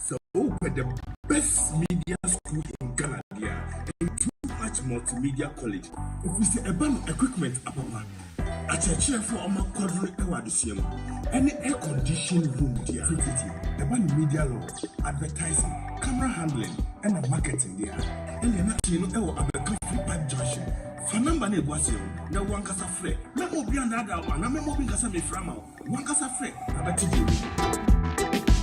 Sɛ wopɛ the best media school in Ghana deɛ a, ɛyɛ Too Much Multimedia College. Ɛfiri sɛ ɛba no equipment apapa, akyerɛkyerɛfoɔ a wɔakwadro wɔ adesua mu, ɛne air conditioned room deɛ a tititi. Ɛba no media law, advertising, camera handling ɛna marketing deɛ a, ɛnneɛ na tee no wɔ Abɛka Free Pipe Junction. Fa number no a ɛgu aseɛ no na wo ankasa frɛ. Mɛma obi annaadaa wo anaa mɛma obi nka sɛ mefrɛ ama wo. Monkasa frɛ abɛte deɛ monim.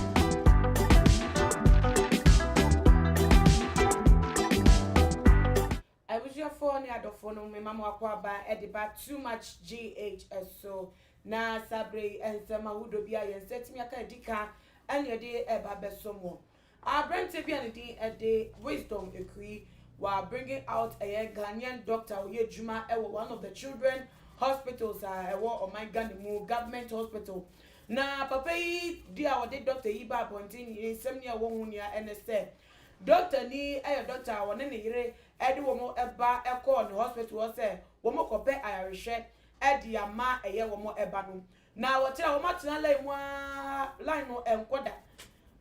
Abusuafoɔ ne adɔfoɔ no mema mo akwaaba de ba Too Much GH so. Na saa berɛ yi nsɛm ahodoɔ bi a yɛn nsa atumi aka adi ka na yɛde reba abɛsɔ mo. Aberantsɛ bi a ne din de Wisdom Akui, ɔa bringing out ɛyɛ Ghanaian doctor a ɔyɛ edwuma wɔ one of the children hospitals a ɛwɔ ɔman Ghana mu, government hospital. Na papa yi de a ɔde doctor yi baa abɔntsen yi nsɛm nea ɛwɔ ho nea ɛne sɛ, doctor ni yɛ doctor a ɔne ne yere de wɔn ba kɔɔ ne hospital hɔ sɛ wɔkɔpɛ ayarehwɛ de ama ɛyɛ wɔn ba no. Na wɔkyerɛ a wɔn atena line mu aa line no ɛnkɔ da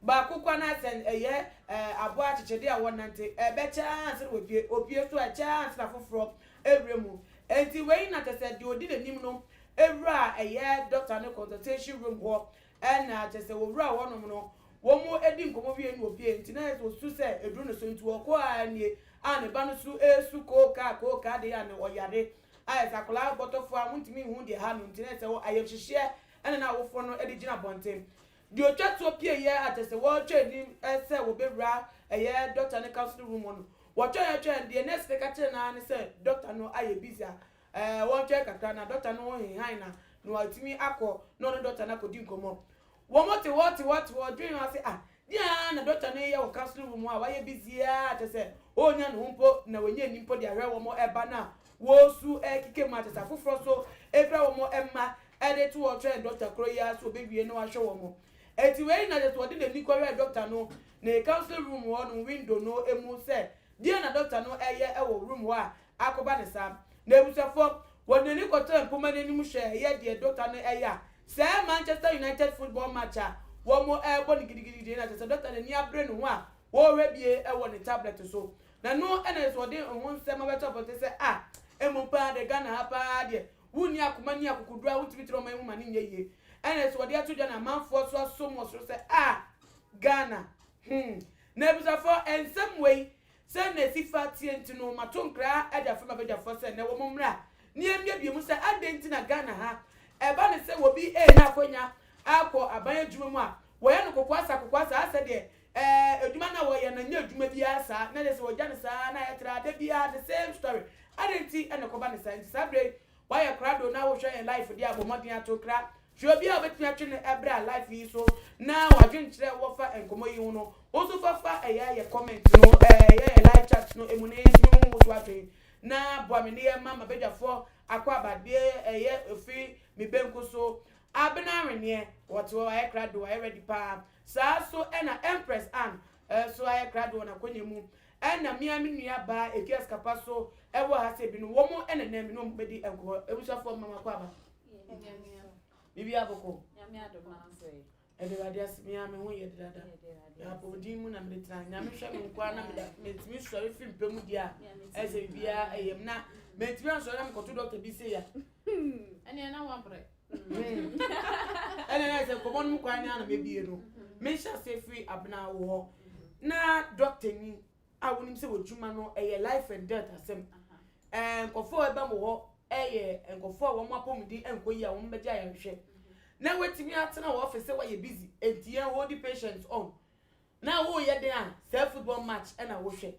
baako kwa na sɛ ɛyɛ ɛɛ aboa akyekyede a wɔnante ɛbɛkyɛ aa ansa na wɔpue opue so a ɛkyɛ aa ansa na foforɔ ɛwura mu ɛnti wei na kyɛ sɛ deɛ ɔdi nanim no ɛwura a ɛyɛ doctor no consultation room hɔ ɛna kyɛ sɛ wɔwura hɔ nom no wɔn ɛdi nkɔmɔ wie na ɔpue ɛnti na yɛsɛ ɔsu sɛ ɛduru ne so ɛnti ɔkɔ aa nie aa ne ba no so ɛɛsu kookaa kookaa deɛ aa na ɔyare Ayɛ sɛ akwadaa bɔtɔfoɔ a wontumi nhu deɛ ɛha no nti na ɛsɛ sɛ ayamhyehyeɛ na na awofoɔ no de gyina abɔnten. Deɛ ɔtwa toɔ pieeɛ a kyerɛ sɛ wɔretwɛn anim sɛ wɔbɛwura ɛyɛ dɔkta no counselling room hɔ no, wɔtwɛn twɛn deɛ nurse no ka kyerɛ no ara ne sɛ dɔkta no ayɛ busy a wɔntwɛn kakra na dɔkta no hehan na na watumi akɔ na ɔne dɔkta no akɔdi nkɔmmɔ. Wɔte hɔ te hɔ te hɔ dwen ara sɛ ah deɛn ara na doctor no reyɛ wɔ counseling room hɔ a wayɛ busy ara kyerɛ sɛ ɔnnya ne ho mpo na wanya ani mpo de ahwɛ wɔn ba no a wɔresu rekeka mu a kyerɛ sɛ afoforɔ nso fira wɔn mma de to hɔ twɛn doctor korɔ yi ara sɛ ɔbɛwie na wahwɛ wɔn enti wei na kyerɛ sɛ ɔde n'ani kɔhwɛɛ doctor no ne counseling room hɔ nom window no mu sɛ deɛn na doctor no reyɛ wɔ room hɔ a akɔba no saa. N'abusuafoɔ, wɔde n'ani kɔtɔɔ mpoma no anim hwɛɛ ɛyɛɛ deɛ dɔkta no ɛyɛ a, sɛ ɛyɛ Manchester United football match a wɔrebɔ no gidigidi deɛ na kyerɛ sɛ dɔkta no ani abere ne ho a ɔrehwɛ bie wɔ ne tablet so. Na ɛno na yɛ sɛ ɔde ho nsɛm abɛto abɔnten sɛ ah, mmom paa deɛ Ghana ha paa deɛ wonni akoma ne akokoduro a wotumi tena ɔman mu ma no nyɛ yie. Ɛna yɛ sɛ wɔde ato dwa na amanfoɔ nso asom wɔ soro sɛ ah, Ghana, hmm. N'abusuafoɔ, nsɛm wei Sɛ na efi fa teɛ nti no, mato nkra adwafoɔ ne mabadwafoɔ sɛ nnɛ wɔn mmra na yɛmmiabie mu sɛ adɛn nti na Ghana ha ɛba no sɛ obi renya akwanya akɔ aban adwuma mu a, wɔyɛ no kokoasa kokoasa ara sɛ deɛ ɛɛ adwuma no a wɔyɛ no nyɛ adwuma bi ara saa na ɛsɛ sɛ wɔgya no saa ara na ɛtra da biara the same story. Adɛn nti na ɛkɔba no saa nti saa berɛ yi Wayɛ krado na wohwɛ yɛn life de abɔ mmɔden ato kra. Hwɛ obi a wobɛtumi atwe no bra life yi so na wadwenkyerɛ wo afa nkɔmmɔ yi ho no, wo nso fa fa ɛyɛ yɛ comment no, ɛyɛ yɛ live chat no mu na yɛntumi ho wo so adwen na boa me ne yɛ ma mabadwafoɔ akɔ aba deɛ ɛyɛ ofi me benku so. Abena Aweneɛ, wɔte hɔ, wayɛ krado, wayɛ ready paa. Saa so ɛna Empress Anne, So ayɛ krado wɔ n'akwanya mu? Ɛna me ara me nua baa etua sika pa so wɔ ha sɛ bi no wɔn ɛna nɛ me ne wɔn bɛdi nkɔmɔ abusuafoɔ mma makɔ aba bibi abɔkɔ ɛde awurade ase me ara me ho yɛ dada na apɔmuden mu na mede tena nyame hwɛ me nkoa na meda mentumi sɔre firi mpɛ mu deɛ a ɛsɛ biribiara ɛyɛ m na mentumi ansɔre na mekɔto dɔkta bi sɛ ya ɛneɛ na wabrɛ ɛna ɛna sɛ nkɔmɔ no mu kwan no a na mebie no mehyɛ ase firi abena wo hɔ na dɔktani a wonim sɛ wɔdwuma no ɛyɛ life and death asɛm nkɔfoɔ a ɛbɛ mo hɔ ɛyɛ nkɔfoɔ a wɔn apɔmuden ɛnkɔ yi a wɔn bɛgye ayɛnhwɛ na wɔatumi atena wɔ ɔfɛ sɛ wɔyɛ busy enti yɛn hold the patient on Na woreyɛ dɛn a, saa football match na wohwɛ.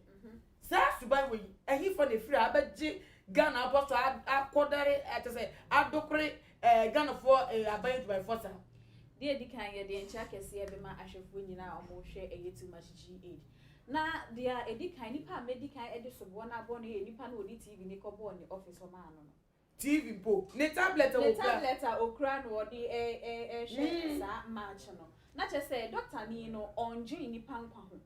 Saa suban wei, ɛhefa na ɛfiri a abɛgye Ghana abɔ so akɔdare kyɛ sɛ adokore Ghanafoɔ aban adwumayɛfoɔ saa? Deɛ ɛdi kan, yɛde nkyea kɛseɛ bɛma ahwɛfoɔ nyinaa a wɔrehwɛ ɛyɛ Too Much GH. Na deɛ ɛdi kan, nipa a mɛdi kan de soboɔ no abɔ no yɛ nipa no a ɔde TV no kɔbɔɔ ne office hɔ maa no no. TV mpo, ne tablet a okura. Ne tablet a okura na ɔde rehwɛ saa match no. Na kyerɛ sɛ, dɔktani no, ɔndwen nnipa nkwa ho.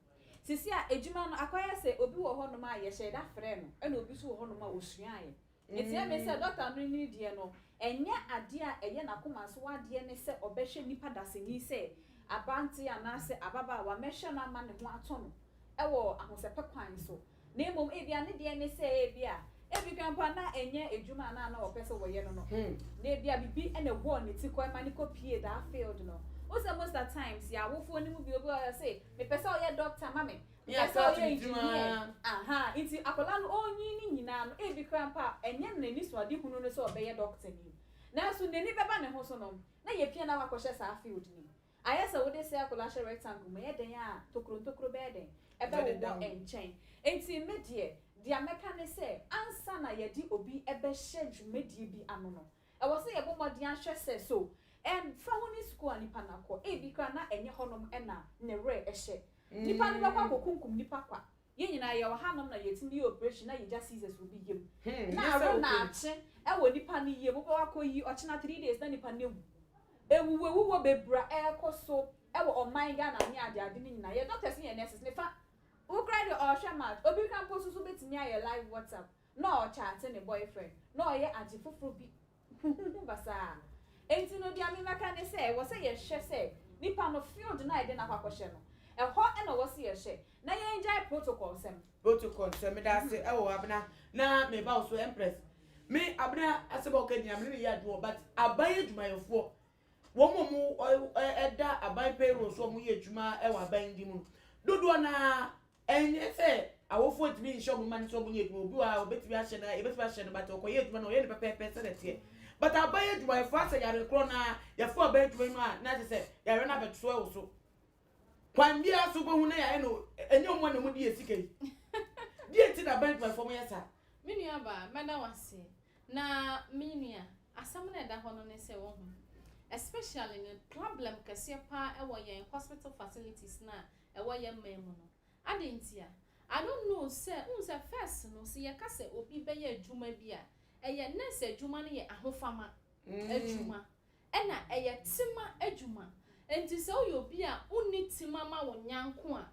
Seesei a adwuma no akɔyɛ sɛ obi wɔ hɔnom a yɛhyɛɛ da frɛɛ no, ɛnna obi nso wɔ hɔnom a osuaeɛ. Ɛteɛ me sɛ dɔkta no ne deɛ no, ɛnyɛ adeɛ a ɛyɛ n'akoma so adeɛ ne sɛ ɔbɛhwɛ nnipa dasani sɛ aberanteɛ anaasɛ ababaawa mmɛhwɛ no ama ne ho atɔ no wɔ ahosɛpɛ kwan so. na mmom ebia ne deɛ ne sɛ ebia ebi koraa mpo a na ɛnyɛ adwuma a na na wɔpɛ sɛ wɔyɛ no no, na ebia biribi na ɛbɔɔ ne ti kɔ ma no kɔpuee that field no. Wohu sɛ most at times yɛn awofoɔ no mu bi obi ɔyɛ ɔse mepɛ sɛ ɔyɛ doctor ma me, mepɛ sɛ ɔyɛ engineer, ahaa, nti akwadaa no ɔrenyin ne nyinaa no ebi koraa mpo a ɛnyɛ n'anisuadehunu no sɛ ɔbɛyɛ doctor ni, nanso n'ani bɛba ne ho so no na yɛpia no a wakɔhyɛ saa field no mu. Ayɛ sɛ wode circle ahyɛ rectangle mu, ɛyɛ dɛn a tokuro ntokuro bɛyɛ dɛn? Ɛbɛwowɔ nkyɛn. Enti me deɛ, deɛ mɛka ne sɛ, ansa na yɛde obi bɛhyɛ dwumadie bi ano no, ɛwɔ sɛ yɛbɔ mmɔden ahwɛ sɛ so ɛmfa ho ne sukuu a nipa no akɔ. Ebi koraa na ɛnyɛ hɔnom na ne werɛ hyɛ. Nipa no bɛkɔ akɔkunkum nipa kwa Yɛn nyinaa yɛwɔ hanom na yɛtumi yɛ operation na yɛgya scissors wɔ bi yam na awe na akye wɔ nipa no yam, wobɛkɔ akɔyi, ɔkyena three days na nipa no awu. Awuwuawuwuo bebree a ɛrekɔ so wɔ ɔman Ghana ne adeade no nyinaa, yɛn doctors ne yɛn nurses ne fa, wo koraa deɛ ɔrehwɛ match, obi koraa mpo nso so bɛtumi ayɛ live WhatsApp na ɔrekyate ne boyfriend na ɔreyɛ ade foforɔ bi. Huhuhu basaa. Enti no dea memɛka ne sɛ ɛwɔ sɛ yɛhwɛ sɛ nipa no field no a yɛde no akɔ akɔhyɛ no ɛhɔ na ɔwɔ sɛ yɛhyɛ na yɛngyae protocol nsɛm. Protocol nsɛm meda ase ɛwɔ Abena na meba wo so Empress. Me Abena asɛm a woka nyinaa me ne no yɛ adwene wɔ but aban adwumayɛfoɔ wɔn a wɔn ɛda aban payroll so a wɔyɛ adwuma ɛwɔ aban de mu no dodoɔ no ara Ɛnyɛ sɛ awofo ntumi nhyɛ wɔn mma no sɛ wɔnyɛ adwuma. Obi wɔ ha obetumi ahyɛ no, yɛbetumi ahyɛ no, but ɔkɔyɛ adwuma no, ɔyɛ no pɛpɛɛpɛ sɛdeɛ ɛteɛ. But aban adwumayɛfoɔ asɛ yare korɔ no ara, yɛfo aban adwuma mu a, na kyerɛ sɛ yareɛ no abɛto wɔ so. Kwan biara so wobɛhu na yɛayɛ no, ɛnyɛ wɔn na wɔdi yɛn sika yi. Deɛ nti na aban adwumayɛfoɔ wɔyɛ saa? Me nua baa, mɛda wo ase. Na me nua, asɛm no a ɛda hɔ no ne sɛ, wohu, especially no, problem kɛseɛ paa wɔ yɛn hospital facilities no a ɛwɔ yɛn man mu no. Adɛn ntia? I don't know sɛ wohu sɛ first no sɛ yɛka sɛ obi bɛyɛ adwuma bi a, ɛyɛ nurse adwuma no yɛ ahofama adwuma ɛna ɛyɛ tema adwuma. Enti sɛ woyɛ obi a wonni tema ma wo nyanko a,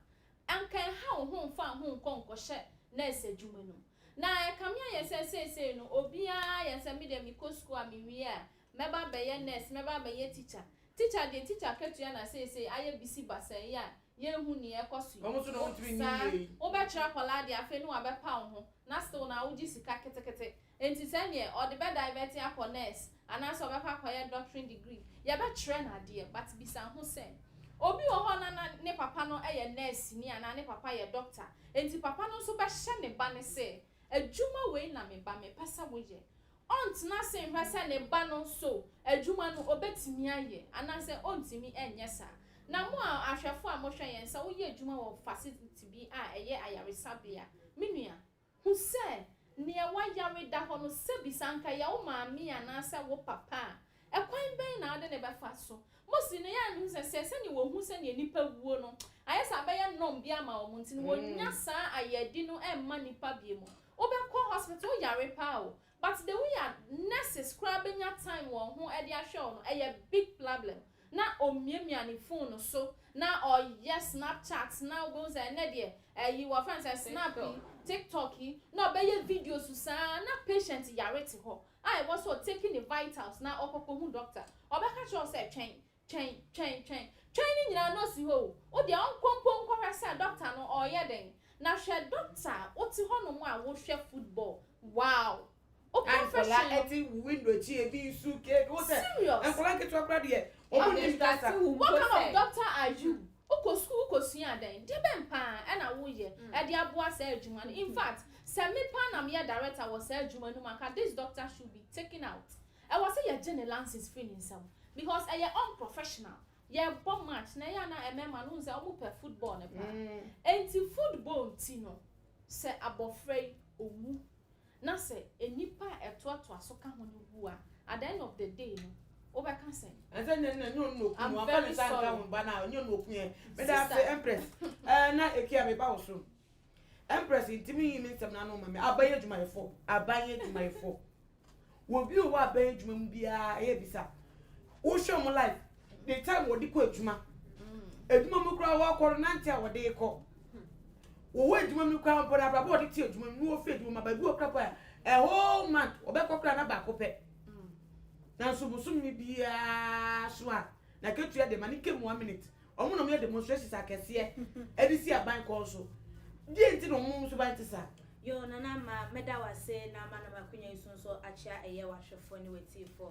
anka ɛnha wo ho mfa wo ho nkɔ nkɔhyɛ nurse adwuma no mu. Na ɛkame ayɛ sɛ seesei no obiara yɛ sɛ me deɛ mekɔ sukuu a mewie a Mɛba abɛyɛ nurse, mɛba abɛyɛ teacher. Teacher deɛ teacher akatua na seesei ayɛ bisi basaa yi a yɛnhu nea ɛkɔ so yi. Saa. Wobɛkyerɛ akwadaa deɛ afei ne wabɛpa wo ho na still no a wogye sika ketekete. Enti sɛ neɛ ɔde bɛ divert akɔ nurse anaasɛ ɔbɛkɔ akɔyɛ doctoring degree, yɛbɛkyerɛ no adeɛ but bisa ho sɛ, Obi wɔ hɔ na na ne papa no yɛ nɛɛseni anaa ne papa yɛ doctor enti papa no nso bɛhyɛ ne ba no sɛ adwuma wei na me ba mepɛ sɛ woyɛ. ɔntena ase nhwɛ sɛ ne ba no so adwuma no obetumi ayɛ anaasɛ ontumi nyɛ saa. Na mo a ahwɛfo a mohwɛ yɛn, sɛ woyɛ adwuma wɔ fasiliti bi a ɛyɛ ayaresabea a, me nua, hu sɛ nea wayare da hɔ no, sɛ bisa anka ɛyɛ wo maame anaasɛ wo papa a, Ɛkwan bɛn na wode no bɛfa so? Mose no, yɛa mehu sɛ sɛ sɛdeɛ wɔhu sɛdeɛ nnipa wuo no, ayɛ sɛ abɛyɛ norm bi ama wɔn nti no, wɔnnya saa ayɛdi no mma nnipa bio mu. Wobɛkɔ hospital, woyare paa o, but the way a nurses koraa bɛnya time wɔn ho de ahwɛ wo no, ɛyɛ big plablem. Na ɔmiamia ne phone no so, na ɔyɛ snapchat, na wobɛhu sɛ ɛnnɛ deɛ, ayi, wɔfrɛ no sɛ snap yi, tiktok yi, na ɔbɛyɛ videos saa, na patient yare te hɔ. a ɛwɔ sɛ ɔtake ne vitals na ɔkɔkɔ hu dɔkta, ɔbɛka kyerɛ wo sɛ twɛn, twɛn, twɛn, twɛn. Twɛn no nyinaa no ɔsi hɔ o, wo deɛ ɔnkɔ mpo nkɔhwɛ sɛ dɔkta no ɔreyɛ dɛn. Na hwɛ dɔkta a wote hɔ nom a wohwɛ football, wow! Wo a nkwadaa confession no. te wo window akyi ebi nsu ke wo sɛ Serious! nkwadaa nketewa koraa deɛ wɔn Ɔde nnim kasa. nsase wo mpo What kind of sɛ. doctor are you? Wokɔ sukuu kosua dɛn? De bɛn paa na woyɛ de aboa saa adwuma no? In fact, sɛ me paa na meyɛ Director wɔ saa adwuma no mu a, anka this doctor should be taken out. Ɛwɔ sɛ yɛgye ne license firi ne nsam because ɛyɛ unprofessional. Yɛbɔ match na ɛyɛ a na mmarima no, wohu sɛ wɔpɛ football no paa. Enti football nti no, sɛ abɔfra yi ɔwu Na sɛ nnipa a ɛtoatoa so ka ho no wu a, at the end of the day no, wobɛka sɛn? Ɛnsɛ nɛ nɛ nyɛ ɔno na oku no wamfa ne nsa anka wo ba no a nyɛ ɔno na oku yɛn meda ase Empress ɛɛ na Ekia meba wo so Empress ntimi nyi me nsɛm no ano mma me aban adwumayɛfo aban adwumayɛfo obi wɔ aban adwuma mu biara ɛyɛ bisa Wohwɛ ɔmo life the time wɔde kɔ adwuma adwuma mu koraa wɔkɔ no nante a wɔde kɔ wɔwɔ adwuma mu koraa mpo no abrabɔ wɔde te adwuma mu na wɔfiri adwuma mu baabi wɔ koraa pɛ a whole month wɔbɛkɔ koraa na baako pɛ nanso bosome biara so a na katua de ma ne kɛmu one minute ɔmo na ɔmo yɛ demonstrations akɛseɛ ɛde si aban kɔn so deɛ nti na ɔmo nso ban te saa Yo, Nana Ma, meda wase na ma nam akonya yi so nso akyea ɛyɛ wahwɛfoɔ ne watiifoɔ.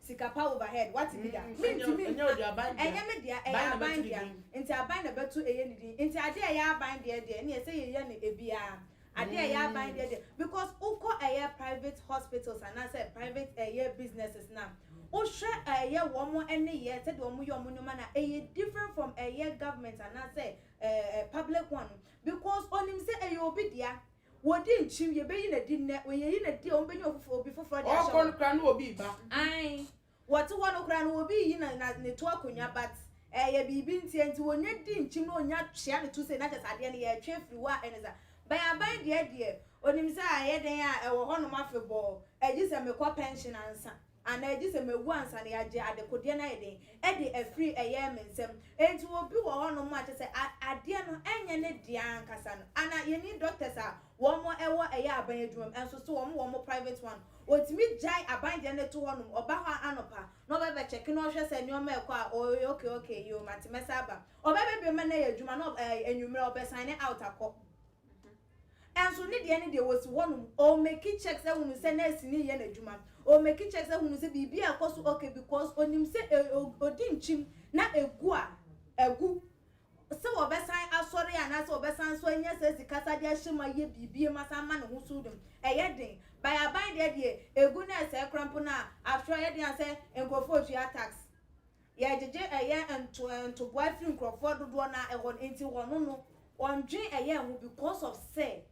Sika pa over head wate bi da? Me ntumi nka, ɛnyɛ me dea, ɛyɛ aban dea, nti aban na ɛbɛto ɛyɛ ne din, nti adeɛ a ɛyɛ aban deɛ deɛ ɛneɛ ɛsɛ yɛ yɛ no ɛbiaa, adeɛ a ɛyɛ aban deɛ deɛ, because wo kɔ ɛyɛ private hospitals anaa sɛ private ɛyɛ businesses no a, wo hwɛ ɛyɛ wɔn ɛne yɛ, sɛdeɛ wɔn yɛ wɔn nneɛma no a, ɛyɛ different from ɛyɛ government anaa sɛ ɛɛ public one no, because ɔnim sɛ ɛyɛ obi dea, Wɔdi nkyim, yɛbɛyi no adi nnɛ. Wɔyɛyi no adi a, wɔbɛnya ofoforo, obi foforɔ de ahyɛ hɔ. Ɔɔkɔ no koraa na obi reba. Ae. Wɔte hɔ no koraa no, obi reyi na, na, ne to akonnwa, but ɛɛyɛ biribi ntia nti wɔnya di nkyim na wɔnya twea ne to sei na kyɛsɛ adeɛ no yɛretwe afiri hɔ a ɛne saa. Bɛn aban deɛ deɛ, onim sɛ ayɛ dɛn a ɛwɔ hɔnom afebɔɔ, ɛgye sɛ mekɔ pɛnhyen ansa. Anaa gye sɛ mawu ansa na yɛagye adekodeɛ no ayɛ den de afiri ɛyɛɛ me nsam. Enti obi wɔ hɔ nom a kyerɛ sɛ adeɛ no ɛnyɛ ne dea ankasa no. Anaa yɛnni doctors a wɔn ɛwɔ ɛyɛ aban adwuma mu nso so wɔn wɔ wɔn private one. Ɔtumi gyae aban deɛ no to hɔ nom, ɔba hɔ anɔpa na ɔbɛ bɛ check na ɔhwɛ sɛ nneɛma ɛkɔ a ɔyɛ okay okay yoo mate mɛsan aba. Ɔbɛ bɛ biem na yɛ adwuma na ɛɛ anwummerɛ ɔbɛ sign out akɔ. Nso ne deɛ ne deɛ ɔsi hɔ nom ɔɔ meki checks ahunu sɛ nurse no yɛ n'adwuma ɔɔ meki checks ahunu sɛ biribi a ɛkɔ so ok because ɔnim sɛ ɔdi nkyim na ɛgu a agu sɛ wɔbɛsan asɔre anaa sɛ wɔbɛsan nso anya saa sika sa de ahyɛ mu ayɛ biribi ma san ma ne ho so dum ɛyɛ den by aban deɛ deɛ ɛgu na ɛsɛe kora mpo no a after all ɛyɛ den a sɛ nkurɔfoɔ tua tax Yɛgyegye ɛyɛ nto ntoboa firi nkurɔfoɔ dodoɔ no a ɛwɔ no nti wɔno no wɔndwen ɛyɛ ho because of sɛ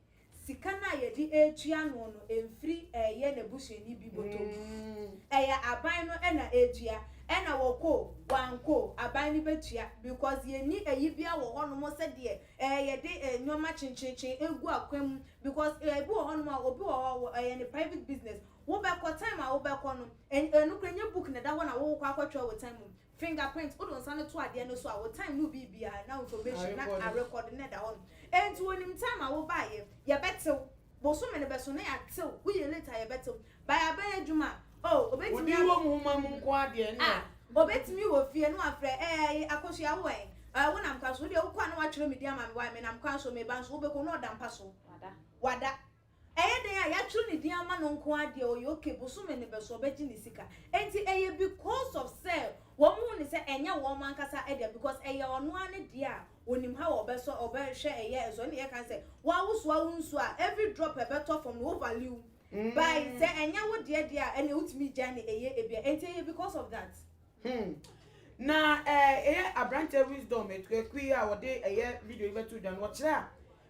sika no a yɛde retua no no ɛmfiri ɛyɛ n'abusuani bi bɔtɔ mu ɛyɛ aban no na ɛtua ɛna wɔkɔ o wankɔ o aban no bɛtua because yɛnni ayi biara wɔ hɔ nom sɛdeɛ ɛɛ yɛde nnoɔma kyenkyerekyen ɛgu akwan mu because ɛbi wɔ hɔ nom a obi wɔ hɔ ɛyɛ ne private business Wo bɛ kɔ, time a wo bɛ kɔ no, ɛn, nokorɛ nyɛ book na ɛda hɔ na wo kɔ akɔ twerɛ wo time mu. Finger print, wo de wo nsa no to adeɛ no so a, wo time no bi biara na information na a record no na ɛda hɔ nom. Ɛnti wo nim time a wo baayɛ, yɛ bɛ tew. Bosome no bɛ so na yɛ atew, wo yɛ late a yɛ bɛ tew. By a bɛ yɛ adwuma a, oh, obɛ tumi a. Wo di wɔ mu homa mu nko ara deɛ ɛnna. Ah, obɛ tumi wɔ fie na wa frɛ, ɛɛi, Akosua wo wɔ ɛn? Ɛɛ, wo nam kwan so, wo deɛ wo kɔ a na wa twerɛ me din ama me, why, me nam kwan so, me ba nso, wo bɛ kɔ na ɔda mpa so. Wada. Wada. Ɛyɛ dɛn a yɛatwerɛ ne din ama no nko ara deɛ ɔyɛ ok, bosome no bɛso ɔbɛgye ne sika. Enti ɛyɛ because of sɛ wɔn hu no sɛ ɛnyɛ wɔn ankasa dea because ɛyɛ ɔno ara ne dea a ɔnim how a ɔbɛsɔ, ɔbɛhwɛ ɛyɛ nso ɛne yɛka no sɛ woawosoa wo nsuo a every drop a ɛbɛtɔ fam no wo value by sɛ ɛnyɛ wo deɛ deɛ a ɛneɛ wotumi gyae no ɛyɛ ebia enti ɛyɛ because of that. Hmm na ɛyɛ abranteɛ wisdom akuaku yi a ɔde ɛyɛ video yi bɛto dwa no ɔkyerɛ a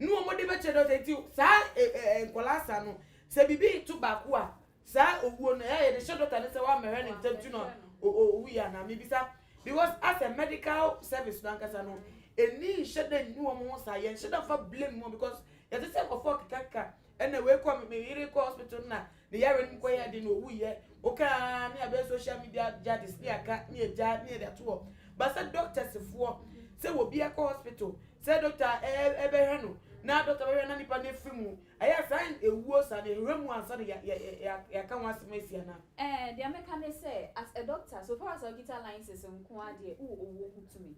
Ne wɔn de bɛkyɛ dɔ sɛ nti saa nkwadaa sa no sɛ biribi reto baako a saa owuo no ɛyɛ yɛde hyɛ dɔkta no sɛ wammɛhwɛ ne ntɛm ti no a owu yɛ anaa mebisa because as a medical service no ankasa no ɛni nhyɛ dɛ nni wɔn ho saa yɛnhyɛ dɛ mfa blame wɔn because yɛte sɛ nkɔfoɔ kekakeka Ɛna wei kɔ me yere kɔ hospital na ne yare no mu kɔ yɛ den na owu yɛ oka aa ne abɛyɛ social media jadis ne aka ne agya ne ɛde ato hɔ ba sɛ doctors foɔ sɛ wɔ bi akɔ hospital sɛ doctor ɛbɛhwɛ no na doctor bɛhwɛ na nipa no afiri mu ɛyɛ saa ewuo saa na ɛhwɛ mu ansa na yɛaka ho asɛm asi anaa. Ɛɛ deɛ mɛka ne sɛ as a doctor so far as ɔkita license nko ara deɛ wowɔ owuo ho tumi.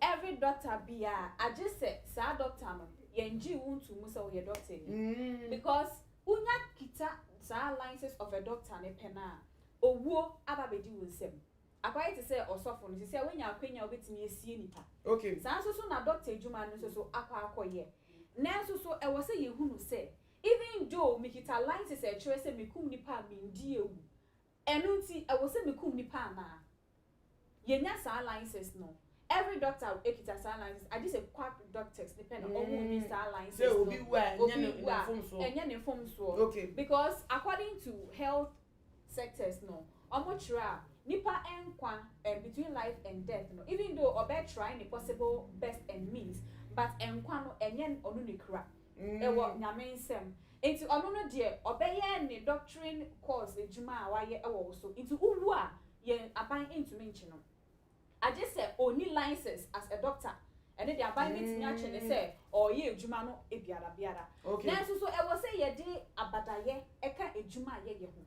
Every dɔkta biaa agye sɛ saa dɔkta no yɛn gyee wo ntoo mu sɛ woyɛ dɔktani because wonya kita saa license of a doctor no pɛ no a owuo aba abɛdi wo nsam akɔayɛ te sɛ ɔsɔfo no sesei a woanya akwanya a wobɛtumi asie nipa saa nso so na dɔkta adwuma no nso so akɔ akɔyɛ nanso so ɛwɔ sɛ yɛhunu sɛ even though mekita license a ɛkyerɛ sɛ mekum nipa a mendie awu Ɛno nti ɛwɔ sɛ me kum nipa anaa? Yɛnya saa license no? Every doctor kita saa license agye sɛ quack doctors no pɛ na ɔmo nni saa license no. Sɛ obi wu a ɛnyɛ ne mfomsoɔ. Ɛnyɛ ne mfomsoɔ. Okay. Because according to health sectors no, ɔmo kyerɛ a nipa nkwa ɛɛ between life and death no even though ɔbɛ try ne possible best and means but nkwa no ɛnyɛ ɔno ne kura. wɔ Nyame nsɛm. Enti ɔno no deɛ ɔbɛyɛ ne doctrine course adwuma a wayɛ wɔ wo so. Nti wo wu a, yɛn aban ntumi nkye no. Agye sɛ ɔnni license as a doctor. Ɛno deɛ aban bɛtumi akye no sɛ ɔreyɛ adwuma no biara biara. Nanso so ɛwɔ sɛ yɛde abadayɛ ka adwuma a yɛyɛ ho?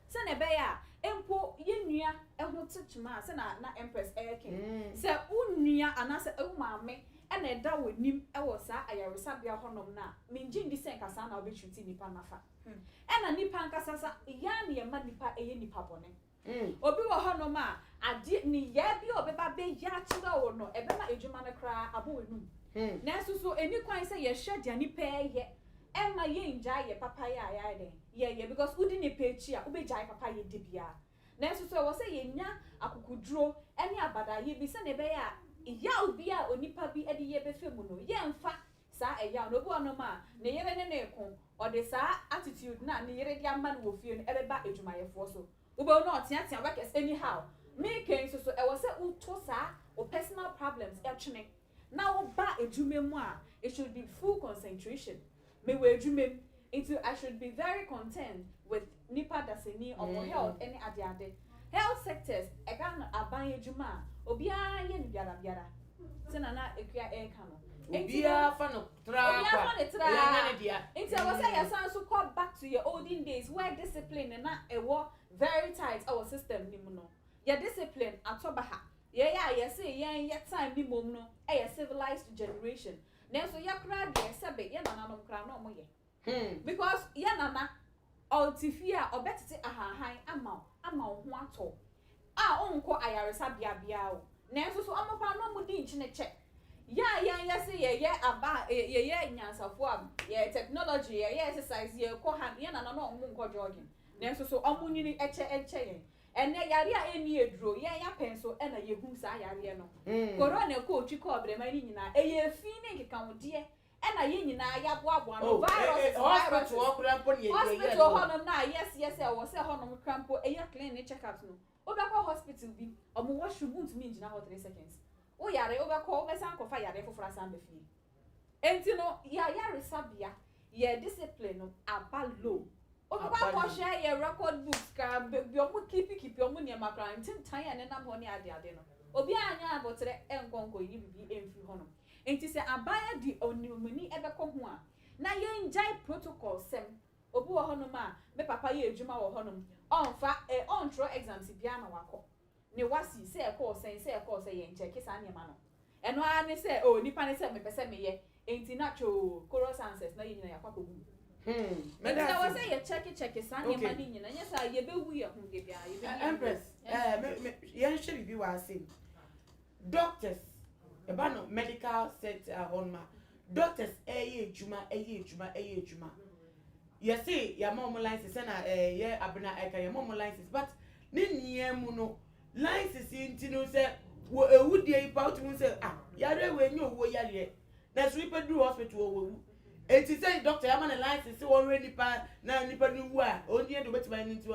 Sɛnea ɛbɛyɛ a mpo yɛn nua ho te kyema a, sɛnea na Empress reka yi, sɛ wo nua anaasɛ wo maame na ɛda w'anim wɔ saa ayaresabea hɔnom no a, migye nni sɛ nka saa na wobɛtreati nnipa no afa. Ɛna nnipa ankasa sa, yɛn ara na yɛma nnipa yɛ nnipa bɔne. Obi wɔ hɔnom a, adeɛ, nneyɛɛ bi a ɔbɛba abɛyɛ akyerɛ wo no, ɛbɛma adwuma no koraa abɔ w'anum. Nanso so ɛnni kwan sɛ yɛhwɛ deɛ nnipa reyɛ mma yɛnngyae yɛn papayɛ a yɛayɛ dɛn? yɛyɛ because wodi nnipa akyi a wobɛgyae papayɛ di bia. Nanso so ɛwɔ sɛ yɛnya akokoduro ne abadaeɛ bi sɛdeɛ ɛbɛyɛ a yaw bi a onipa bi de yɛ bɛfa mu no yɛmfa saa ɛyaw no. Obi wɔ hɔnom a ne yere ne no reko, ɔde saa attitude no a ne yere de ama no wɔ fie no bɛba adwumayɛfoɔ so. Wobɛhu no a ɔteatea workers anyhow. Meeka yi nso so ɛwɔ sɛ woto saa wo personal problems twene. na wo ba edwuma mu a it should be full concentration me wɔ edwuma mu nti I should be very concerned with nipa dasani ɔmo health ɛne ade ade health sectors ɛghana aban edwuma a obiara yɛ no biara biara sɛ nana akua ɛɛka no nti no obiara fa no tra obiara kwa fa ne tra ɛyɛ nyɛ ne dea nti ɛwɔ sɛ yɛ san so kɔ back to yɛ olden days where discipline na ɛwɔ very tight ɛwɔ system no mu no yɛ discipline atɔ baha Yɛn a yɛse yɛn yɛ time ne mmom no yɛ civilised generation nanso yɛ koraa deɛ sɛbe yɛ nananom koraa na wɔyɛ because yɛ nana ɔte fie a ɔbɛtete ahahan ama wo ama wo ho atɔ wo a wonkɔ ayaresabea biara o nanso so wɔn koraa na wɔdi nkyene kyɛ yɛ a yɛn yɛse yɛyɛ aba a yɛyɛ nyansafoɔ a yɛyɛ technology yɛyɛ exercise yɛkɔ ha yɛ nana na wɔn nkɔ jogging nanso so wɔn nyini kyɛ nkyɛ yɛn Ɛnnɛ, yareɛ a ɛnni aduro, yɛn yɛapɛn so na yɛhu saa yareɛ no. Korona kɔɔ twi kɔɔ abraman no nyinaa. Ɛyɛ fi ne nkekahodeɛ na yɛn nyinaa yɛaboaboa ano, viruses, viruses. Hospital hɔnom no a yɛseɛ sɛ ɛwɔ sɛ hɔnom kora mpo yɛ clean ne check ups no, wobɛkɔ hospital bi, wɔn washroom wontumi ngyina hɔ three seconds. Woyare, wobɛkɔ, wobɛsan akɔfa yareɛ foforɔ asan aba fie. Enti no yɛ ayaresabea yɛ discipline no aba low wobɛkɔ akɔhwɛ yɛ record books koraa baabi a wɔn keep keep wɔn nneɛma koraa no ntintan a ɛnenam hɔ ne ade ade no obiara nyɛ aboterɛ nkɔ nkɔyi biribi mfiri hɔnom enti sɛ aban adi onimuni bɛkɔ ho a na yɛngyae protocol sɛm obi wɔ hɔnom a me papa yɛ adwuma wɔ hɔnom ɔmfa ɛ ɔntwerɛ exams biara ma wakɔ Ne wasi, sɛ ɛkɔɔ sɛn, sɛ ɛkɔɔ sɛ, yɛnkyɛke saa nneɛma no. Ɛno ara ne sɛ, oh, nnipa ne sɛ mepɛ sɛ meyɛ, enti na too, chorus answers, na yɛn nyinaa yɛakɔ akɔgu mu. Enti na ɛwɔ sɛ yɛkyɛkekyɛke saa nneɛma no nyinaa, ɛnyɛ saa a, yɛbɛwu yɛn ho de biara, yɛbɛdi yɛn ho. Empress, ɛɛ, me, me, yɛnhwɛ biribi wɔ ase. Doctors, ɛba no medical set a, hɔ nom a, doctors ɛreyɛ adwuma, ɛyɛ adwuma, ɛyɛ adwuma. Yɛse yɛama ɔmo license sɛ na ɛyɛ abena ɛka yɛma ɔmo license but ne nyinaa mu no license yi nti no sɛ wɔ ewu deɛ yi pa wotumi hu sɛ ah yareɛ wei nyɛ owuo yareɛ nanso nipa duru hospital ɔwɔ wu eti sɛ doctor yɛama ne license sɛ wɔhwɛ nipa na nipa no wu a ɔnni yɛ deɛ obetumi ayɛ no nti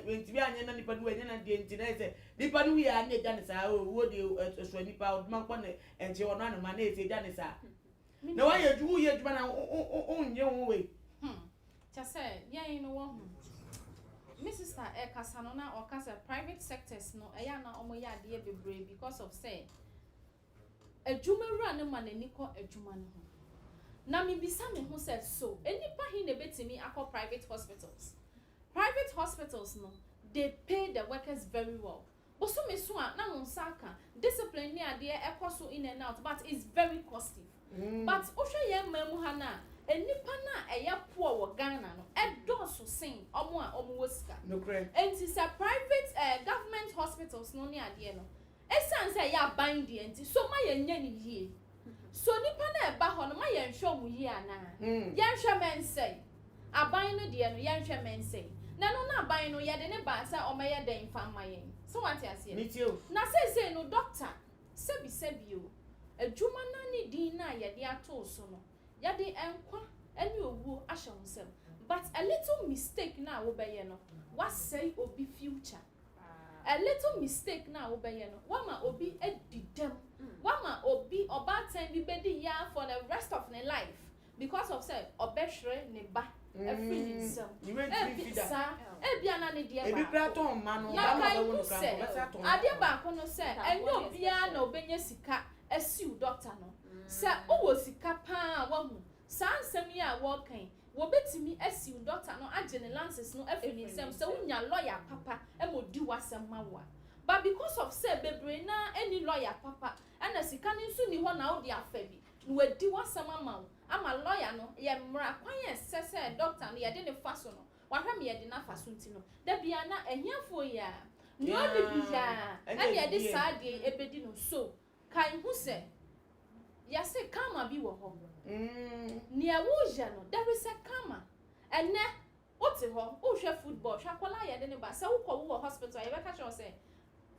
wɔntumi anyɛ na nipa no wu ɛnyɛ na deɛ nti na yɛ sɛ nipa no wu yɛ a na egya ne saa owuo deɛ ɛsoa nipa ɔdoma nkɔ ne ɛnkyɛ ɔno anoma na yɛ sɛ egya ne saa. Na wayɛ adwuma woyɛ adwuma na wonnye ho wei. Hmm kyɛ sɛ yɛn no wahu. Me sister ɛkasa no na ɔka sɛ private sectors no ɛyɛ a na ɔmo yɛ adeɛ bebree because of sɛ adwuma wura no ma n'ani kɔ adwuma no ho. Na me bisa me ho sɛ so nnipa he na ɛbɛtumi akɔ private hospitals? Private hospitals no they pay the workers very well Bosome so a na wo nsa aka discipline ne adeɛ ɛkɔ so in and out but it's very costly but wohwɛ yɛn man mu ha no a nnipa no a ɛyɛ poor wɔ Ghana no ɛdɔɔso sen wɔn a wɔn wɔ sika nti sɛ private eh government hospitals no ne adeɛ no ɛsiane sɛ ɛyɛ aban deɛ nti so ma yɛnyɛ no yie. So nnipa no a ɛba hɔ no ma yɛnhwɛ wɔn yie anaa? Yɛnhwɛ mɛnsɛn. Aban no deɛ no, yɛnhwɛ mɛnsɛn. Na ɛno no aban no, yɛde no baa sɛ ɔmmɛyɛ dɛn mfa mma yɛn. So woate aseɛ? Na seesei no, dɔkta, sɛbisɛbi o, adwuma no ne din no a yɛde atoo so no, yɛde nkwa ne owuo ahyɛ wo nsam. But a little mistake no a wobɛyɛ no, woasɛe obi future. A little mistake no a wobɛyɛ no, woama obi adi dɛm. Woama obi, ɔbaatan bi bɛdi yea for the rest of ne life because of sɛ ɔbɛhwere ne ba afiri ne nsam. Ebi, saa, ebia na ne deɛ baako. Na kae hu sɛ, adeɛ baako no sɛ, ɛnyɛ obiara na ɔbɛnya sika asiw dɔkta no. Sɛ wowɔ sika pa ara a, woahu, saa nsɛm yi a wɔreka yi, Wobetumi asiw dɔkta no agye ne lances no afi ne nsam sɛ wunya lɔya papa ma odi w'asɛm ma wo a. But because of sɛ bebree no ara nni lɔya papa na sika no nso nni hɔ na wode afa bi na wadi w'asɛm ama wo ama lɔya no yɛ mmara kwan a ɛsɛ sɛ dɔkta no yɛde no fa so no wahwɛ ma yɛde no afa so nti no da biara na ahiafoɔ yi ara nea ɔnni biara na yɛde saa adeɛ yi bedi no so Kae hu sɛ, yɛse karma bi wɔ hɔ. Nea woyɛ no, there is a karma. Ɛnnɛ, wote hɔ, wohwɛ football, hwɛ akwadaa a yɛde no ba. Sɛ wokɔ, wowɔ hospital a, yɛbɛka kyerɛ wo sɛ,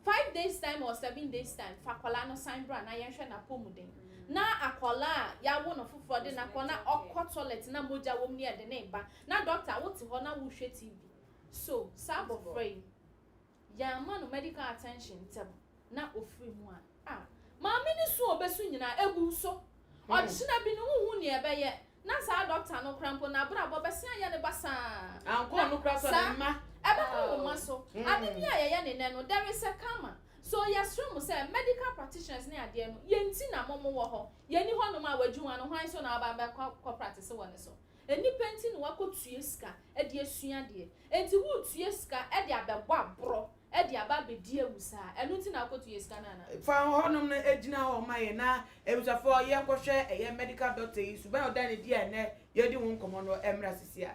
five days time or seven days time, fa akwadaa no san bra na yɛnhwɛ n'apɔmuden. Na akwadaa a yɛawo no foforɔ de no akɔ na ɔkɔ toilet na mogya wɔ mu na yɛde no reba. Na doctor, wote hɔ na wohwɛ TV. So, saa abɔfra yi, Yɛamma no medical attention ntɛm na ɔfiri mu a, ah. Maame no su a ɔbɛsu nyinaa, ɛgu nso. Ɔkyena bi no, wonhu nea ɛbɛyɛ. Na saa dɔkta no koraa mpo, n'abrabɔ bɛsen ayɛ no basaa. Ankɔ no koraa sɔ ne mma. Saa, ɛbɛkɔ wo mma so. Ade biara a yɛyɛ no nnɛ no, there is a karma. So yɛsrɛ mo sɛ, medical practitioners ne adeɛ no, yɛn nti na mo mo wɔ hɔ. Yɛnni hɔnom a, w'adwuma no, hwan so na waba abɛkɔ akɔ practice wɔ ne so? Nnipa nti na woakɔtua sika de asua adeɛ. Enti woretua sika de abɛbɔ aborɔ de aba abɛdi awu saa. Ɛno nti na wokɔtua sika no anaa? Fa hɔnom no gyina hɔ ma yɛn na abusuafoɔ yɛnkɔhwɛ ɛyɛ medical doctor yi suban a ɔda no adi a ɛnnɛ yɛredi ho nkɔmmɔ no mmra sisi a.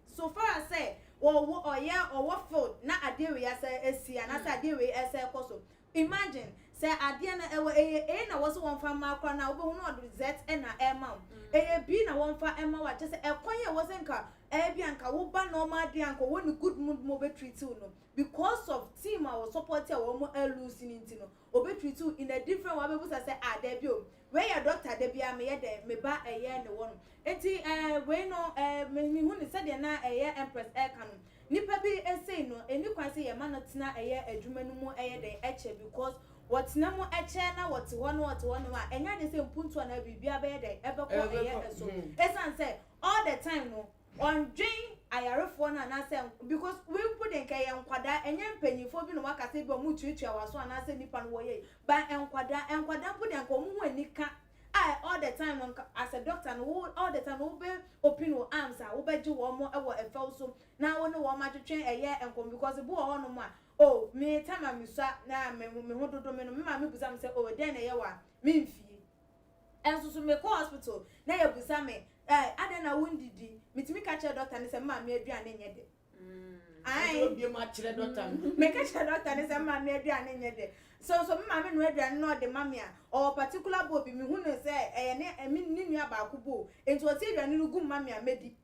So far as sɛ ɔwɔ ɔyɛ ɔwɔ field na adeɛ wei asɛ asi anaa sɛ adeɛ wei ɛsɛ ɛkɔ so imagine sɛ adeɛ no ɛwɔ ɛyɛ A na wɔse wɔmfa mma koraa no a wobɛhu no ɔde Z na ɛrema wo ɛyɛ B na wɔmfa mma wo a kyerɛ sɛ ɛkwan a ɛwɔ sɛ nka ɛbi a nka wo ba normal adeɛ a nka ɔwɔ ne good mood ma ɔbɛ treat wo no because of team a wɔ support a wɔn a lose no nti no ɔbɛ treat wo in a different way abɛbusa sɛ ah dabi o Wei yɛ doctor da biara meyɛ dɛn me ba ɛyɛ ne wɔ no nti eh wei no eh me me hu no sɛdeɛ na ɛyɛ empress ɛka no nipa bi ɛsei no ɛni kwan sɛ yɛ ma no tena ɛyɛ adwuma no mu ɛyɛ dɛn ɛkyɛ because wɔ tena mu ɛkyɛ na wɔ te hɔ na wɔ te hɔ nom a ɛnyɛ adeɛ sɛ mpuntuo anaa biribiara bɛyɛ dɛn ɛbɛkɔ ɛyɛ ɛso ɛsan sɛ all the time no Ɔndwen ayarefoɔ no anaasɛ nk because wei mpo deɛ nka ɛyɛ nkwadaa ɛnyɛ mpaninfoɔ bi na wɔaka sɛ ebia wɔn tuatua w'aso anaasɛ nipa no wɔyɛ yei but nkwadaa, nkwadaa mpo deɛ nka wɔn ho ani ka a all the time no nka as a doctor no wo all the time no wobɛ opin wo arms a wobɛgye wɔn wɔ ɛfɛw so na wo ne wɔn atwetwe ɛyɛ nkɔmmɔ because ebi wɔ hɔnom a oh me time a mesua na me ho dodo me no me maame bisa me sɛ oh ɛdɛn na ɛyɛ wo a memfie Nso so mekɔ hospital na yɛbusa me eh, adɛn na wondidi? Metumi ka kyerɛ dɔkta no sɛ me maame aduane nyɛ dɛ. Ae. Meka kyerɛ dɔkta no sɛ me maame aduane nyɛ dɛ. So nso me maame noa aduane na ɔde ma me a, ɔwɔ particular bowl bi, mehu no sɛ ɛyɛ ne nua baako bowl. Enti ɔte aduane no gu ma me a, medi.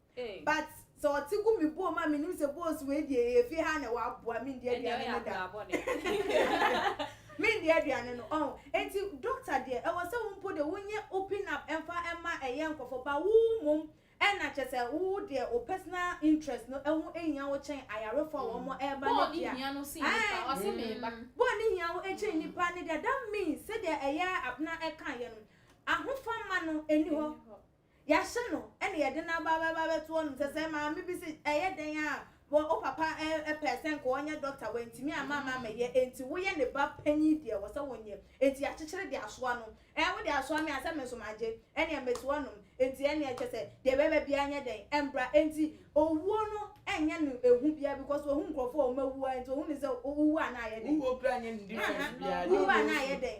But sɛ ɔte gu me boom a menim sɛ boss wei deɛ ɛyɛ fie ha na ɛwɔ aboa mendi aduane no da mendi aduane no ɔho enti doctor deɛ ɛwɔ sɛ wo mpo deɛ wonyɛ open up ɛmfa ɛma ɛyɛ nkorɔfoɔ ba wo mmom ɛna kyɛ sɛ wo deɛ wo personal interest no ɛho hia wo kyɛn ayarefoɔ a wɔn ɛba no deɛ ae bɔɔ ne hia wo ɛkyɛn nipa no deɛ that means sɛdeɛ ɛyɛ abena ɛkaeɛ no ahofama no ɛni hɔ Yɛahyɛ no na yɛde no aba bɛba abɛto hɔnom sɛ sɛ maame bi se ɛyɛ dɛn a wɔ wo papa pɛɛ sɛ nka ɔnyɛ dɔkta wantumi amma ama ammɛyɛ enti woyɛ ne ba panyin deɛ ɛwɔ sɛ wonyɛ enti yɛakyekyere de asoa no ɛɛ wode asoa me a sɛ me nso magye ɛneɛ mɛtu hɔnom enti ɛneɛ kyɛ sɛ deɛ ɛbɛba biara nyɛ dɛn ɛmbra enti owuo no ɛnyɛ no ehu biara because ohu nkurɔfoɔ a wɔn awuo a enti ohunu sɛ wowu a na ayɛ dɛn wuwu a na ayɛ dɛn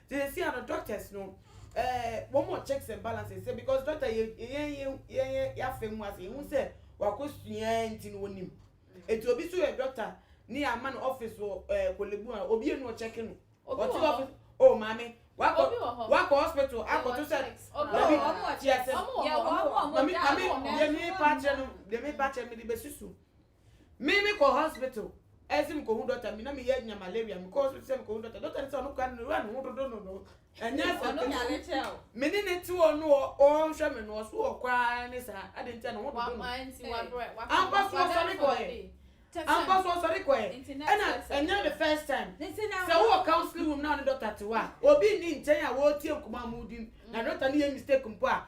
Sɛsia no doctors no eh wɔn wɔ checks and balances sɛ because doctor yɛ yɛn yɛ yɛn yɛ yɛafa mu ase yɛhu sɛ wakɔ sua nti no wɔnim eti obi so yɛ doctor ne ama no office wɔ eh kolebu a obi enu ɔkyɛke no Obi ɔte wɔ hɔ. office oh maame wakɔ Obi wɔ hɔ. wakɔ hospital Yɛwɔ akɔto sɛ checks. Obi dabi wɔ hɔ. wɔn wɔ Ti checks. asɛm Wɔn wɔ Yɛwɔ hɔ. abo a wɔn mami da mami ano. mami deɛ mepa akyerɛ no deɛ mepa akyerɛ no mede bɛsusu. Me me kɔ hospital ɛse me kohu doctor me na me yɛ nya malaria me kɔ hospital sɛ me kohu doctor doctor ne sɛ ɔno kura no wura ne ho dodo no no ɛnyɛ asɛ kɛnɛ me ne ne te hɔ no ɔnhwɛ me no ɔso wɔ kɔ ara ne saa ade nti a ne ho dodo no ampa so ɔsɔre kɔ yɛ ampa so ɔsɔre kɔ yɛ ɛna ɛnyɛ the first time sɛ wowɔ counseling room na ɔne doctor te hɔ a obi nni nkyɛn a wɔretie nkɔmɔ a modi na doctor ne yɛ mistake mpo a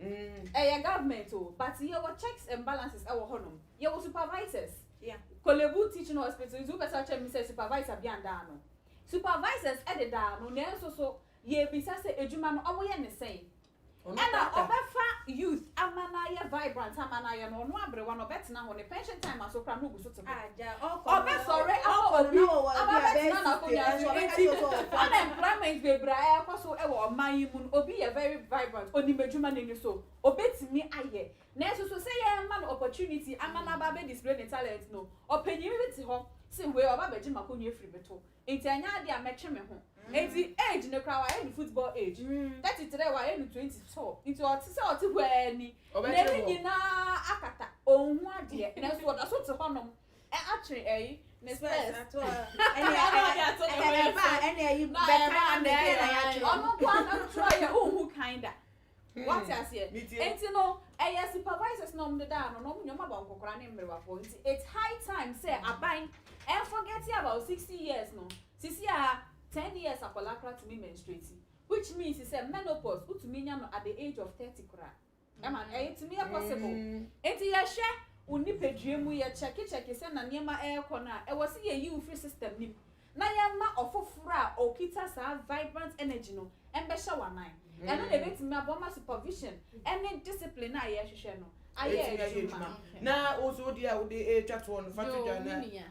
Mm ɛyɛ government o but yɛwɔ checks and balances ɛwɔ hɔ nom yɛwɔ supervisors yeah Korle Bu teaching hospital nti wobɛsa kyerɛ me sɛ supervisor bi andaa ano supervisors ɛde daa ano nanso so yɛbisa sɛ adwuma no ɔmo yɛ ne sɛn ɛna ɔbɛfa youth ama no ayɛ vibrant ama no ayɛ no ɔno abrewa no ɔbɛtena hɔ ne pension time aso koraa na ogu so Ɔbɛsɔre akɔ obi aba bɛtena n'akonnwa so nti unemployment bebree a ɛrekɔ so wɔ ɔman yi mu no obi yɛ very vibrant onim adwuma no ani so obetumi ayɛ nanso so sɛ yɛrema no opportunity ama no aba abɛ display ne talent no ɔpanyin bi te hɔ se wei ɔba abɛgye m'akonnwa afiri me to Nti ɛnyɛ ade a mɛtwe me ho. Nti age no koraa wayɛ no football age. Thirty trɛ wayɛ no twenty so nti ɔte sɛ ɔte hɔ ara ni. N'ani nyinaa akata, ɔnhu adeɛ nanso ɔda so te hɔnom atwe ɛyi, ne spɛs. Ɔno nko ara na ɔtwerɛ yɛ, wonhu kan da. Wate aseɛ? Enti no, ɛyɛ supervisors na wɔn deda ano, na wɔn nyɛ wɔn aba nkɔkora ne mmerewafoɔ. Nti it's high time sɛ aban ɛnforgɛte about sixty years no. Sisi a, ten years akwadaa koraa tumi menstruate, which means sɛ menopause wotumi nya no at the age of thirty koraa. Ɛma no, ɛyɛ tumi yɛ possible. Enti yɛhwɛ wo nipadua mu, yɛkyɛkekyɛke sɛnea nneɛma ɛrekɔ no a, ɛwɔ sɛ yɛyi wo firi system no mu. na yɛmma ɔfoforo a okita saa vibrant energy no mmɛhyɛ wo anan. Ɛno na ebetumi aboa ma supervision ne discipline a yɛhwehwɛ no ayɛ adwuma. Na wo nso wo deɛ a wode retwa toɔ no, fa to dwa na. Yoo, me nua.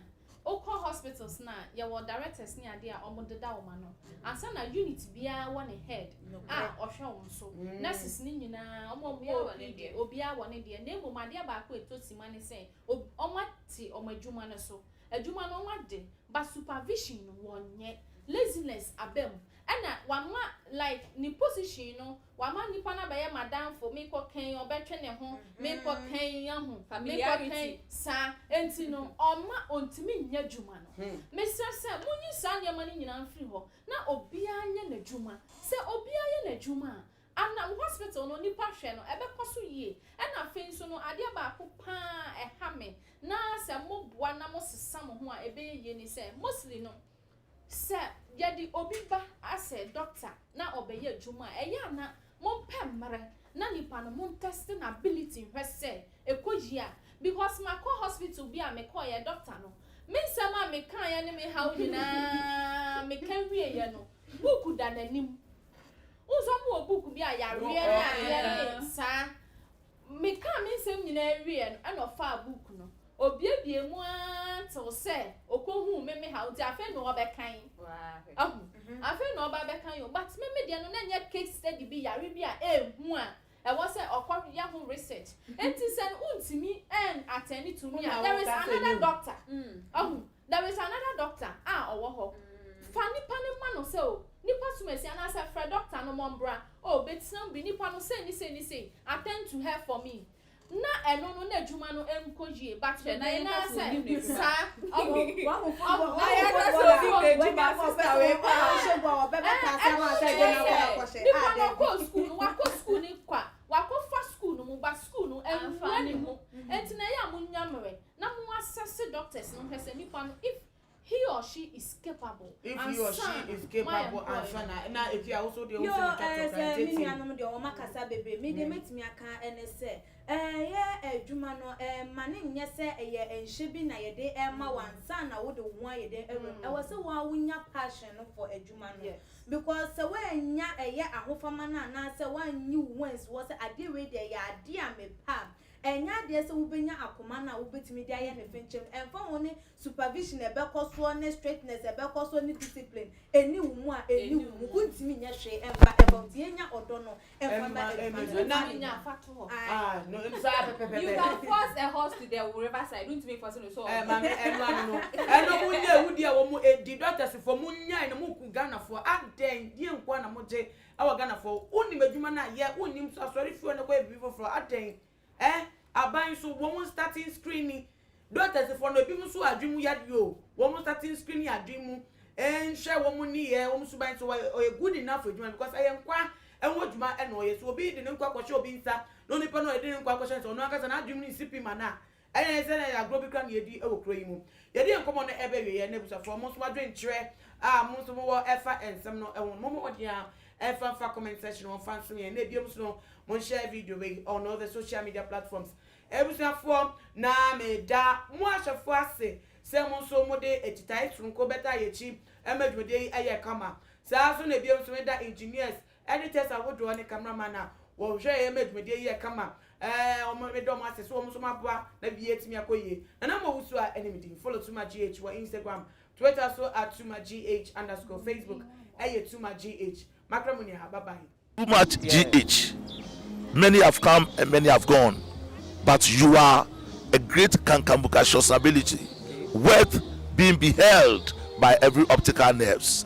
Wokɔ hospitals no a, yɛwɔ directors ne adeɛ a wɔdeda wɔn ano. Ansa na unit biara wɔ ne head a ɔhwɛ wɔn so. Nurses no nyinaa, wɔn a wɔwɔ OPD, obiara wɔ ne deɛ. Na mmom adeɛ baako a ɛtɔ simma ne sɛ, Ob wɔn te wɔn adwuma no so. Adwuma no wɔn ade but supervision no wɔn nyɛ. Laziness aba mu. Ɛna wama like ne position no wama nnipa no abɛyɛ m'adamfo, me kɔ kɛn ɔbɛtwe ne ho, me kɔ kɛn ahu, me kɔ kɛn saa. Ɛnti no ɔma ɔntumi nyɛ adwuma no. Me srɛ sɛ monyi saa nneɛma no nyinaa mfiri hɔ na obiara nyɛ n'adwuma. Sɛ obiara yɛ n'adwuma a Ana wo hospital no nipa hwɛ no ɛbɛkɔ so yie? Ɛna afei nso no adeɛ baako paa a ɛha me na sɛ mo boa na mo sesa mo ho a ɛbɛyɛ yie ne sɛ mostly no sɛ yɛde obi ba asɛ doctor na ɔbɛyɛ adwuma a ɛyɛ a na mo mpɛ mmerɛ na nipa no mo ntɛste no ability nhwɛ sɛ ɛkɔ yie a because makɔ hospital bi a me kɔeɛ doctor no me nsɛm a me kaeɛ ne me haw nyinaa me ka wieɛ no book da n'anim Wosua mu wɔ book bi a yareɛ ne adeɛ ne saa me kaa me nsɛm nyinaa wieɛ no ɛna ɔfaa book no obiebie mu aa tew sɛ ɔkɔ huu me me haw nti afei na ɔbɛkan ahu afei na ɔba bɛkan o but me me deɛ no na nyɛ case study bi yare bi a ɛɛhu a Ɛwɔ sɛ ɔkɔ yɛ ho research nti sɛ no wontumi ɛn attend tumi a there is another doctor wahu there is another doctor a ɔwɔ hɔ fa nipa no ma no sɛ o nipa sum asi anaasɛ frɛ doctor no mɔ mbra o bɛtena mu bi nipa no sei ne sei ne sei attend to her for me na ɛno no na adwuma no Kɔyie ba kyerɛ na yɛn ka sɛ onim ne dwuma. Na yɛn ka sɛ onim ne dwuma sista wei paa. Ɛno ne yɛn yɛ. Nipa no ɔkɔɔ sukuu no wakɔ sukuu no kwa wakɔ fa sukuu no mu but sukuu no ɛnwura ne mu ɛnti na ɛyɛ a mo nya mmerɛ na mo assess doctors no hwɛ sɛ nipa no if He or she is capable. If he or she is capable ansa na. Ɛna efi a wo so deɛ wo sɛ meka kyerɛ kan gye ti. Yoo ɛɛ sɛ me nuanom deɛ wɔn akasa bebree me deɛ mɛtumi aka ɛne sɛ ɛɛyɛ adwuma no ɛɛma no nyɛ sɛ ɛyɛ nhyɛ bi na yɛde ɛɛma wo ansa na wo de wo ho ayɛ dɛn awura mu ɛwɔ sɛ wo ara wo nya passion no for adwuma no because sɛ woannya ɛyɛ ahofama no anaa sɛ woanyi wo ho ansi hɔ sɛ adeɛ wei deɛ ɛyɛ adeɛ a mepɛ a Ɛnyɛ adeɛ sɛ wobɛnya akoma no a wobɛtumi de ayɛ no fenkyɛm, ɛmfa ho ne supervision a ɛbɛkɔ soɔ ne strictness a ɛbɛkɔ soɔ ne discipline, ɛnni wo mu a ɛnni wo mu, wontumi nyɛ hwee mfa ɛmma wo nti yɛnya ɔdɔ no mfa mma adwuma no na ne nya mfato hɔ. You can force a horse to the river side, wontumi mfɔse no sɛ ɔwɔ mu. Ɛno ano no, ɛno mo nyɛ, wodi a wɔn ɛdi, doctors foɔ mo nyae no, mo ku Ghanafoɔ, adɛn, deɛ nkoa na mo gye Ɛwɔ Ghana fɔ wo nim adwuma no a yɛ wo nim so asɔre fie na kɔ yɛ biribi foforɔ adɛn eh aban nso wɔn starting screening doctors fɔ no ebinom nso adwene mu yadeɛ o wɔn starting screening adwene mu eh nhwɛ wɔn nneyɛɛ wɔn suban so wɔyɛ ɔyɛ good enough adwuma no because ɛyɛ nkwa ɛho adwuma ɛna ɔyɛ so obi de ne nkwa kɔhyɛ obi nsa na onipa no a ɔde ne nkwa akɔhyɛ nsa ɔno ankasa n'adwene mu no nsi pi ma no a Ɛyɛ yɛn sɛ na ɛyɛ agorɔ bi koraa na yɛredi wɔ kuro yi mu. Yɛde yɛn nkɔmmɔ no reba awieeɛ na abusuafoɔ, mo nso mo adwenkyerɛ a mo nso mo wɔ fa nsɛm no ho no, mommɔ mmɔden ara mfa mfa comment section hɔ mfa nsom yɛn. Na ɛbiom nso no, monhyɛ video wei on all the social media platforms. Abusuafoɔ, na meda mo ahwɛfoɔ ase sɛ mo nso mode akyitaeɛ sononko bɛtaa yɛn akyi ma dwumadie yi yɛɛ kama. Saa ara nso na ɛbiom nso meda engineers Editors ahodoɔ ne camera man a wɔhwɛɛ ma dwumadie yɛɛ kama ɛɛ wɔn meda wɔn ase so wɔn nso wɔn aboa na biribiara atumi akɔ yie. Nana Mo Owusu a ɛne me din follow Tuma GH wɔ Instagram, Twitter so at Tuma GH underscore Facebook ɛyɛ Tuma GH makra mu ni ha bye bye. Tuma GH many have come and many have gone but you are a great kankambukacious ability worth being beheld by every optical nerves.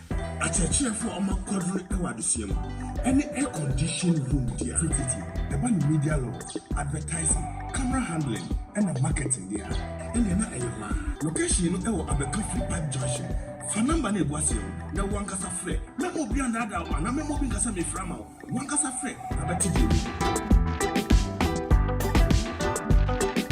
Akyerɛkyerɛfo a wɔma kwadwom wɔ adesua mu ne air conditioned room dea tututu ɛba no media launch, advertising, camera handling na marketing dea ɛnneɛ na ɛyɛ hɔ ara. Location no wɔ Abeka Free Park Junction. Fa number no a ɛgu aseɛ no na wo ankasa frɛ. Mɛma obiara nnaadaa wo anaa mɛma obi nka sɛ mefrɛ ama wo. Wo ankasa frɛ na bɛte deɛ ɛwɔ mu.